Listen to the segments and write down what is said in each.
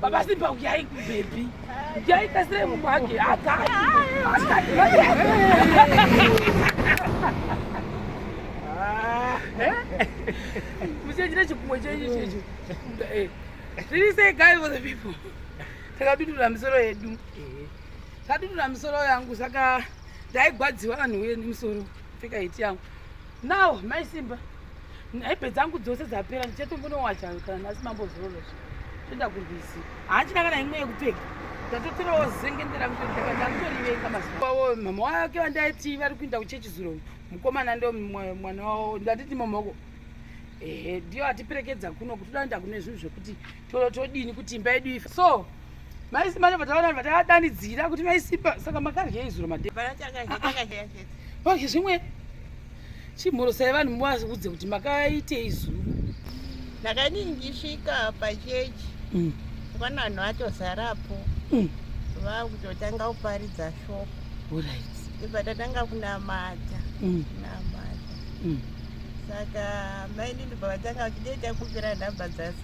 Baba Simba huyai kubebi. Huyai kasire Mungu wake hata. Mchejira chikumwe chenyu checho. Eh. Really say guy for the people. Takadudura misoro yedu. Takadudura misoro yangu saka ndaigwadziwa vanhu wenu misoro. Pfeka hiti yangu. now mai simba nhaipe dzangu dzose dzapera ndichatombonowacha kana nhasi mambo zororo toenda kurwizi hachina kana imwe yekupfeka ndatotorawo zengendera ndakutorivenga mazuvawo mama wake vandaiti vari kuinda kuchechi zuro mukomana ndo mwana wavo ndatiti mamoko ehe ndiyo atiperekedza kuno kuti toda kuenda kune zvinhu zvekuti toro todini kuti imba yedu ife so maisimba ndo vataona vatadanidzira kuti maisimba saka makaryei zuro madeko ah, ah. zvimwe chimhorosai vanhu muvaudze kuti makaitei zuro ndakani ndisvika pachechi mm. kwana vanhu vatozarapo mm. vakutotanga kuparidza shoko ibva tatanga kunamata mm. kunamata saka maini ndibva vatanga vachidei takupira nhamba dzasi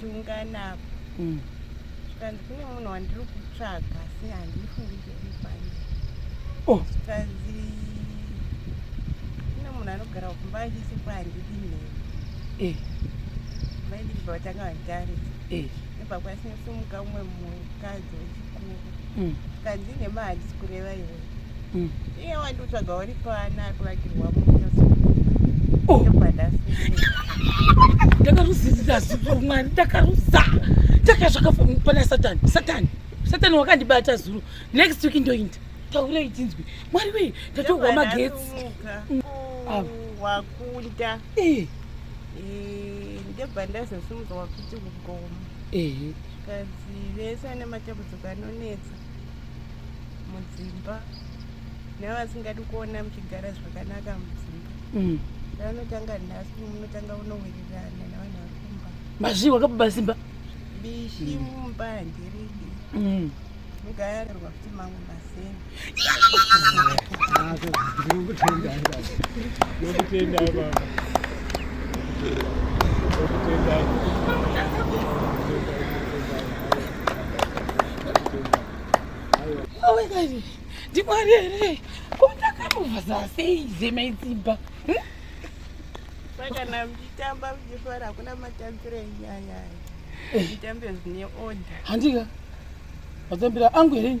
tiungana apa mm. zvikanzi kune munhu wandiri kutsvaga asi handifungi zviripani oh. zvikanzi kune munhu anogara kumba achisipo handidi nhema eh. vaidii vatanga vanditarisa eh. nebva kwasinosimuka umwe mukadzi mm. kanzi ine mahags kureva iwe mm. iye wandiutsvaga uri paana akuvakirwa ndakaruzizira zuva mwari ndakaruza ndakazvakapana satani satani satani wakandibata zuro next week ndoinda taurei tinzwi mwari wei ndatohwa magetsi mm. wakunda eh. eh, ndebva ndazosumuka wakuti kugoma vakadzi vese vane matambudziko anonetsa mudzimba nevasingadi kuona muchigara zvakanaka mudzimba mm. vanotanga nhasi munotanga unowirirana nevanhu vari kumba mazvii wakabuba simba bishi mumba handiridi mm. Mugayarirwa kuti mamwe mazeni. Ndokutenda baba. Ndokutenda baba. Ndokutenda baba. Awe kazi. Ndimwari here? Kondakamuva zasei zemaidzimba. Hmm? kana muchitamba muchifara hakuna matambiro enyaya mutambe zvine order handika mazembera angu here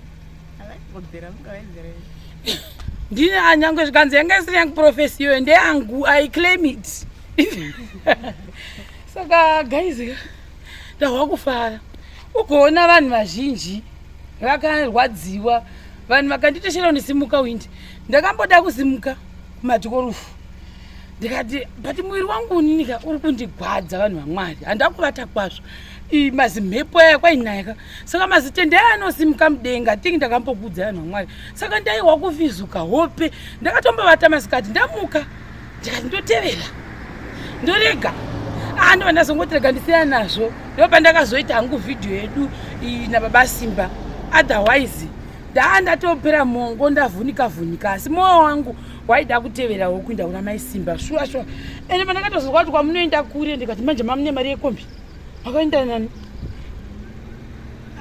ndine anyangwe zvikanzi yanga isiri yangu profesi iyoyo ndeyangu i claim it saka guys ndahwa kufara ugoona vanhu vazhinji vakarwadziwa vanhu vakanditeshera unisimuka windi ndakamboda kusimuka kumadikorufu ndikati but muviri wangu uninika uri kundigwadza vanhu vamwari handida kuvata kwazvo mazimhepo aya kwainayaka saka mazitende aya anosimuka mudenga tingi ndakambokudza vanhu vamwari saka ndaiwa kufizuka hope ndakatombovata masikati ndamuka ndikati ndotevera ndorega ando ah, vandazongotirega ndisiya nazvo ndo pandakazoita hangu vhidhiyo yedu nababa simba otherwise ndaa ndatopera mongo ndavhunika vhunika asi mwoyo wangu waida kuteverawo kuinda kuna mai simba shuwa shuwa ende pandakatozorwa kuti kwamunoenda kure ndikati manje mamune mari yekombi makaenda nani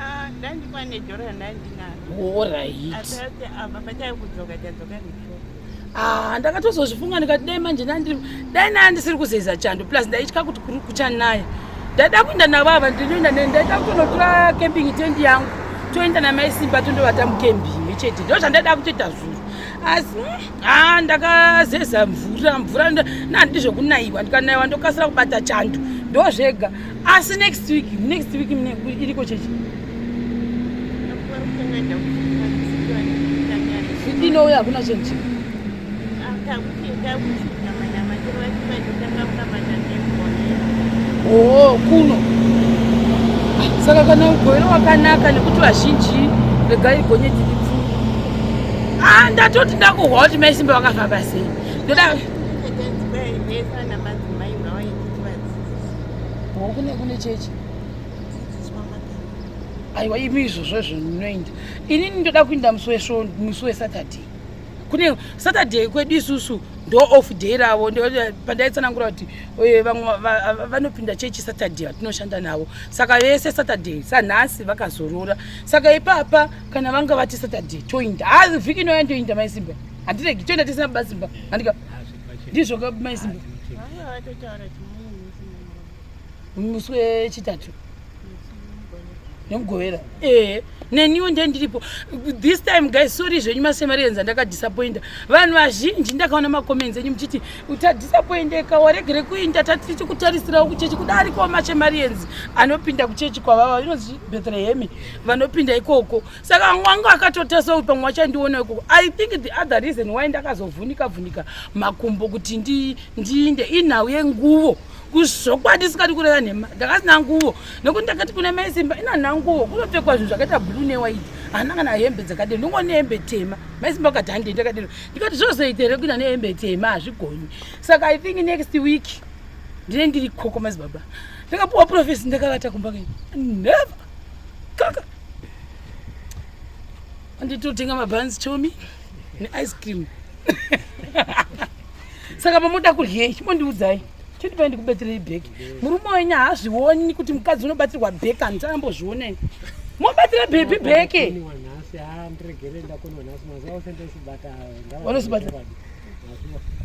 ah, ndandikwane joro yandandinaro orit Ah, ndakatozozvifunga ndikati dai manje nandi dai naya ndisiri kuzeza chando plus ndaitya kuti kuri kuchanaya ndaida kuenda navava ndinoenda ne ndaida kutonotora camping tent yangu toenda namai simba tondovata mucamping chete ndo zvandaida kutoita zvuru asi hmm, ha ah, ndakazeza mvura mvura nandi zvekunaiwa ndikanaiwa ndokasira kubata chando ndo zvega asi next week next week iriko chechi inouya hakuna chinhu chii oo oh, kuno saka kana ugoiro wakanaka nekuti vazhinji regai gonye dziri pfuu ah, ndatoti ndakuhwa kuti mai simba vakafamba sei ndoda kune kune chechi aiwa imi izvozvo izvo ndinoenda inini ndoda kuinda musi wesvo musi wesaturday kune saturday kwedu isusu ndo off day ravo pandaitsanangura kuti eh, vamwe vanopinda chechi saturday vatinoshanda navo saka vese saturday sanhasi vakazorora saka ipapa kana vanga vati saturday toinda hazi vhiki inoya ndoinda maisimba handiregi toinda tisina basimba handika ndizvo maisimba musi wechitatu nemugovera ee eh, neniwo nde ndiripo this time guys sorry zvenyu masemarians andakadisappointa vanhu vazhinji ndakaona macomments enyu muchiti utadisappoindeka waregere kuinda tatichi kutarisirawo kuchechi kuda arikowo masemarians anopinda kuchechi kwavava inonzi bethlehemi vanopinda ikoko saka mwanga akatotasauri pamwe wachandiona ikoko i think the other reason why ndakazovhunika vhunika makumbo kuti ndiinde inhau yenguvo ndi kuzvokwadi sikati kureva nhema ndakasina nguvo nekuti ndakati kune mai simba ina nanguvo kunopfekwa zvinhu zvakaita blue newaiti hana kana hembe dzakadero ndingo nehembe tema mai simba vakati handei ndakadero ndikati zvozoita here kuina nehembe tema hazvigonyi saka i think next week ndine ndiri koko mazibaba ndakapuwa profesi ndakavata kumba kei never kaka anditotenga mabhanzi chomi neice cream saka mamoda kuryei mondiudzai chitipai ndikubatirei bheki murume wenyu haazvioni kuti mukadzi unobatirwa bheki handiti ambozvionei mobatira bhebhi bheke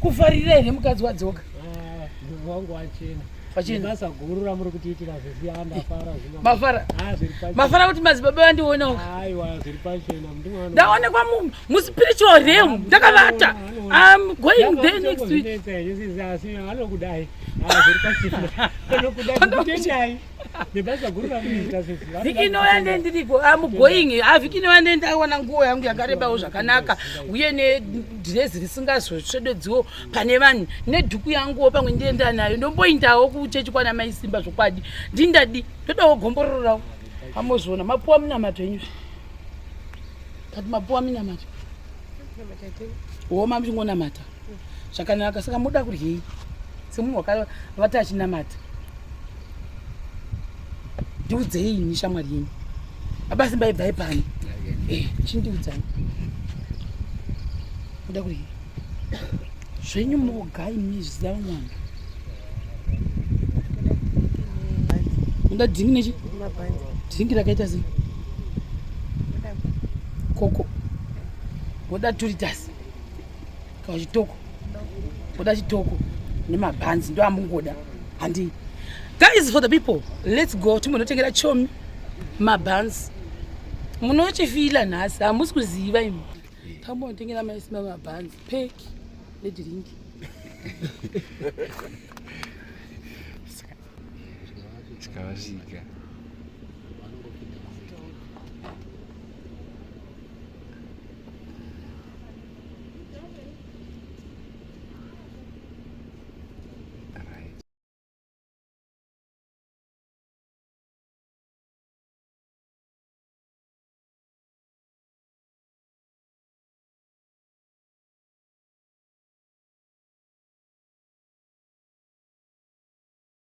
kufarira here mukadzi wadzoka mafara kuti madzibaba vandionawo ndaonekwa muspiritual realm ndakavata I'm going there next week. vhiki inouya ndendiriko am going ah, vhiki inouya ndendawana nguo yangu yakarebawo zvakanaka uye nedrezi risingazotsvedodziwo pane vanhu nedhuku yanguwo pamwe ndienda nayo ndomboindawo kuchechi kwana mai simba zvokwadi ndindadi ndodawo gomborororawo amozviona mapuwa munamato enyuzvi But mapuwa minamata. Minamata tei? Woma muchingonamata. Zvakanaka saka muda kuryei? Semunhu wakavata achinamata. Ndiudzei ini shamwari yenyu. Baba Simba ibvai pano. Eh, chindiudzai. Muda kuryei? zvenyu moga imi zviziva mwana unoda dhingi nechi dhingi rakaita sei koko woda turitasi kana chitoko woda chitoko nemabhanzi ndo amungoda handii guys for the people let's go timbonotengera chomi mabhanzi munochifila nhasi hamusi kuziva imi Tambo ndingena mai sima mabands pack ne drink. Chikavasika.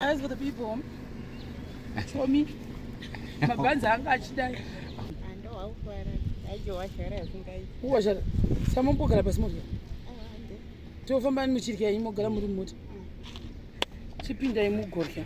As for the people, for me, mabhanzi anga achidai. Uwasha, samambogara pasi mota. Tofamba muchirya yenyu mogara muri mota. Chipindai mugorya.